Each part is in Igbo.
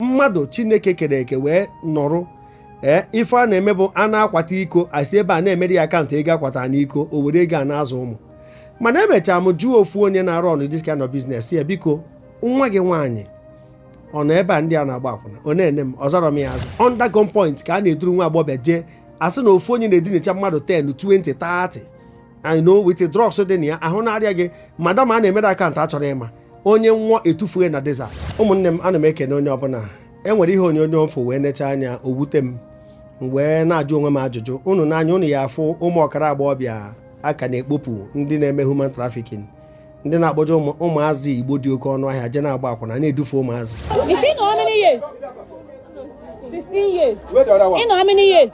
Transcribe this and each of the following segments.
mmadụ chineke kere eke wee nọrụ ee ife a na-eme bụ a na-akwata iko asị ebe a na-emere ya akaụntụ ego akwata n'iko o were ego a na-azụ ụmụ mana emechaa m jụọ ofu onye na-arọnụ this kind of business ya biko nwa gị nwaanyị ọ nọ ebe a ndị a na-agba akwụna ọ na-ene m ọ zarọ m ya aza under gun point ka a na-eduru nwa agbọghọbịa jee asị na ofu onye na-edinacha mmadụ 10 20 30 I know with drugs dị na ya ahụ na-arịa gị madam a na-emere akaụntụ achọrọ ịma onye nwụọ etufue na desert ụmụnne m ana m ekene onye ọbụla e nwere ihe onyonyo m fụ wee necha anya o wute m wee na-ajụ onwe m ajụjụ unu nee anya unu ya-afụ ụmụ ọkara agbọghọbịa a ka na-ekpopụ ndị na-eme human trafficking ndị na-akpọje ụmụazị Igbo dị oke ọnụ ahịa jee na-agba akwụna na-edufe ụmụazị Is she know how many years? 16 years. Where the other one? You know how many years?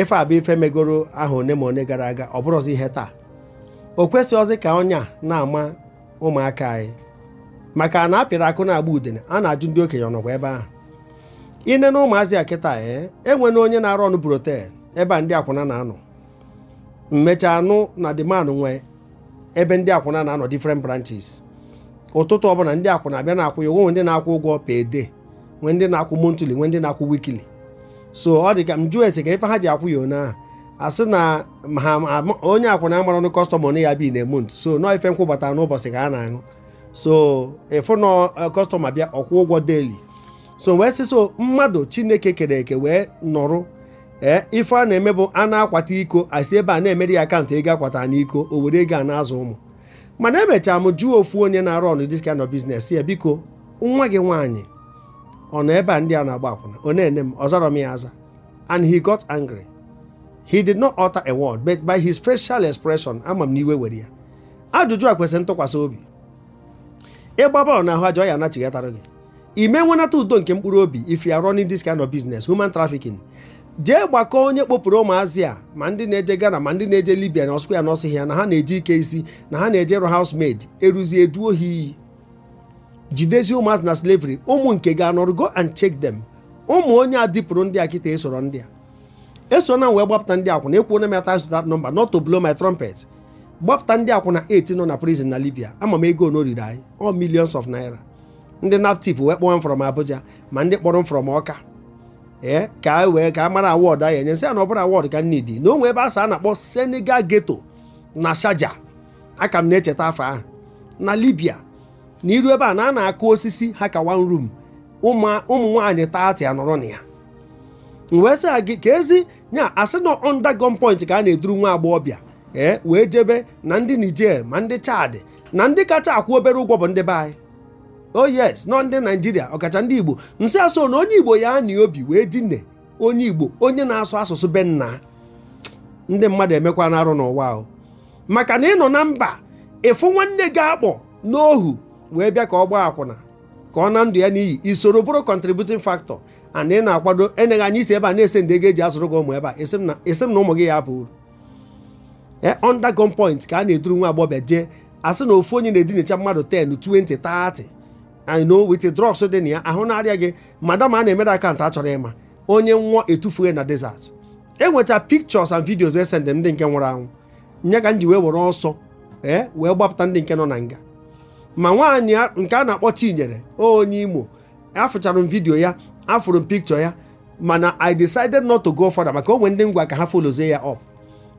ife a bụ ife megoro ahọ one ma one gara aga ọ bụrụzi ihe taa o kwesịghịzi ka ọnya na-ama ụmụaka anyị maka na a pịrị akụ na-agba udene a na-ajụ ndị okenye ọ nọkwa ebe ahụ i nee na ụmụazị a kịta ee eh, enwena onye na-arọnụ brothel ebe a ndị akwụna na-anọ m mechaa nụ na the man nwee ebe ndị akwụna na-anọ different branches ụtụtụ ọbụla ndị akwụna abịa na-akwụ ya o nwee ndị na-akwụ ụgwọ per day nwee ndị na-akwụ monthly nwee ndị na-akwụ weekly so ọ dị ka m jụọ ese ka ife ha ji akwụ ya ona ahụ asị na ha onye akwụna amarọ ọnụ kọstọma na ya-abịa in a month so na ọọ ife nkwụ gbata n'ụbọchị ka a na-aṅụ so ị fụ na kọstọma bịa ọ kwụọ ụgwọ daily so wee sị so mmadụ chineke kere eke wee nọrụ ee ife a na-eme bụ a na-akwata iko asị ebe a na-emere ya akaụntụ ego akwata n'iko o were ego a na-azụ ụmụ mana emechaa m jụọ ofu onye na-arọnụ this kind of business ya biko nwa gị nwaanyị ọ nọ ebe a ndị a na-agba akwụna ọ na-ene m ọ zarọ m ya aza and he got angry he did not utter a word but by his facial expression ama m na iwe were ya ajụjụ a kwesịrị ntụkwasị obi ị gbaa bọọlụ na ahụ aja ọ ya-anachighatara gị ị ma-enwenata udo nke mkpụrụ obi if you are running this kind of business human trafficking jee gbakọọ onye kpopụrụ ụmụazị a ma ndị na-eje Ghana ma ndị na-eje Libya na ọ sịkwa ya na ọ sị ya na ha na-eje ike isi na ha na-eje ịrụ housemaid eruzie eduo ha iyi jidezie ụmụazị na slavery ụmụ nke ya anọrụ go and check them ụmụ onye a dupụrụ ndị a kịta esoro ndị a eso na wee gbapụta ndị akwụna ekwuona m ya times without number not to blow my trumpet gbapụta ndị akwụna 8 nọ na prison na Libya ama m ego one o riri anyị all millions of naira ndị naptip wee kpọọ m from abuja ma ndị kpọrọ m from ọka ee ka a wee ka a mara award a ya-enye sị ya na ọ bụrọ award ka m need na o nwe ebe a sị a na-akpọ senegal ghetto na shaja aka m na-echeta afa ahụ na libya na i ruo ebe a na a na-akụ osisi ha ka one room ụmụ nwaanyị 30 anọrọ na ya wee sị gị ka ezi nya a sị na under gunpoint ka a na-eduru nwa agbọghọbịa ee wee jebe na ndị niger ma ndị chad na ndị kacha akwụ obere ụgwọ bụ ndị be anyị oh yes nọ ndị naijiria ọkacha ndị igbo nsị asụ na onye igbo ya na obi wee dine onye igbo onye na-asụ asụsụ be nna ndị mmadụ emekwana arụ n'ụwa ahụ maka na ị nọ na mba ị fụ nwanne gị a kpọ n'ohu wee bịa ka ọ gbaa akwụna ka ọ na ndụ ya n'iyi i soro bụrụ contributing factor and ị na-akwado enyeghị anyị isi ebe a na-esend ego e ji azụrụ gị ụmụ ebe a esi m na ụmụ gị ya-aba uru e, under gunpoint ka a na-eduru nwa agbọghọ jee a sị na ofu onye na-edinacha mmadụ 10 20 30 I know with drugs dị na ya ahụ na-arịa gị madam a na-emere account a chọrọ ịma onye nwụọ e tufue na desert enwecha pictures and videos esend ndị nke nwụrụ anwụ nya ka m ji wee were ọsọ ee eh, wee gbapụta ndị nke nọ na nga ma nwaanyị nke a na-akpọ Chinyere onye Imo afụchara m video ya afụrụ m picture ya mana i decided not to go further maka o nwe ndị m gwa ka ha followzie ya up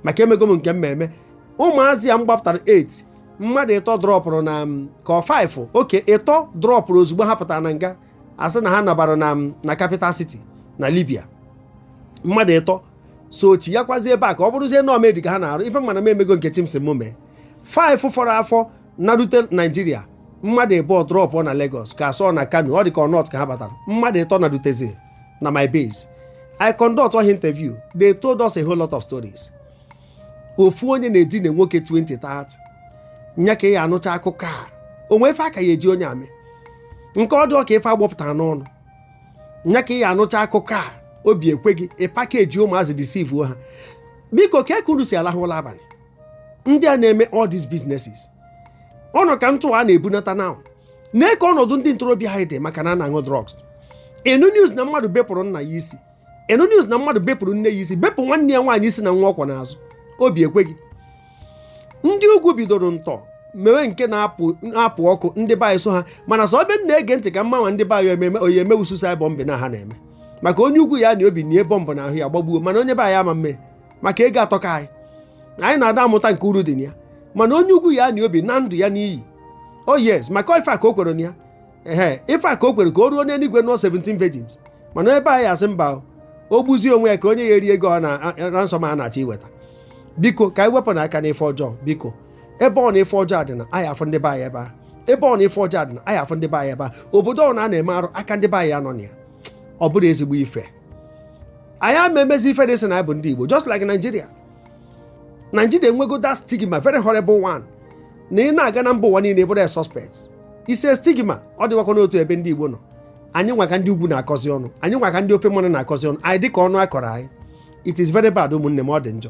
maka emego m nke m ma eme ụmụazị a m gbapụtara 8 mmadụ ịtọ drọpụrụ na m ka ọ 5 okay ịtọ drọpụrụ ozugbo ha pụtara na nga a sị na ha nabara na m na capital city na libya mmadụ ịtọ sochiekwazi ebe a ka ọ bụrụzie na ọ maid ka ha na-arụ ife mana m emego nke chi m si m mee 5 fọrọ afọ narute naijiria mmadụ ịbụọ drọpụ na Lagos ka asọ na Kano ọ dị ka ọ north ka ha batara mmadụ ịtọ narutezi na my base I conduct all interview they told us a whole lot of stories ofu onye na-edina nwoke 20 30 nya ka ị ya-anụcha akụkọ a o nwe ife a ka ya-eji onye a eme nke ọ dị ka ife a gbọpụtara n'ọnụ nya ka ị ya-anụcha akụkọ a obi ekwe gị ị package ụmụazị deceive ha biko ka unu si alahụ ụlọ abalị ndị a na-eme all these businesses ọnụ ka ntụ a na-ebunata na nee ka ọnọdụ ndị ntorobịa anyị dị maka na a na-aṅụ drugs ị nụ news na mmadụ bepụrụ nna ya isi ị nụ news na mmadụ bepụrụ nne ya isi bepụ nwanne ya nwaanyị isi na nwa ọ kwọ n'azụ obi ekwe gị ndị ugwu bidoro ntọ mewe nke na-apụ ọkụ ndị be anyị so ha mana sọ ebe m na-ege ntị ka m mara ma ndị be anyị ememe oyi eme suicide bomb na ha na-eme maka onye ugwu ya na obi nie bomb na ahụ ya gbagbuo mana onye be anyị ama eme maka ego atọka anyị na anyị na-ada amụta nke uru dị na ya mana onye ugwu ya na obi na ndụ ya n'iyi o oh yes maka ife a ka o kwere na ya ehe ife a ka o kwere ka o ruo n'eluigwe nụọ 17 virgins mana ebe anyị asị mba o gbuzie onwe ya ka onye ya eri ego na ransom a na-achọ iweta biko ka anyị wepụnụ aka n'ife ọjọọ biko ebe ọ na ife ọjọọ dị na anyị afụ ndị be anyị ebe a ebe ọ na ife ọjọọ dị na anyị afụ ndị be anyị ebe a obodo ọ na a na-eme arụ aka ndị be anyị anọ na ya ọ bụrụ ezigbo ife anyị ama emezi ife dị sị na anyị bụ ndị Igbo just like Nigeria Nigeria enwego that stigma very horrible one na ị na-aga na mba ụwa niile bụrụ a suspect the same stigma ọ dịwakwa n'otu ebe ndị Igbo nọ anyị nwa ka ndị ugwu na-akọzi ọnụ anyị nwa ka ndị ofe mmanụ na-akọzi ọnụ anyị dịka ọnụ akọrọ anyị it is very bad ụmụnne m ọ dị njọ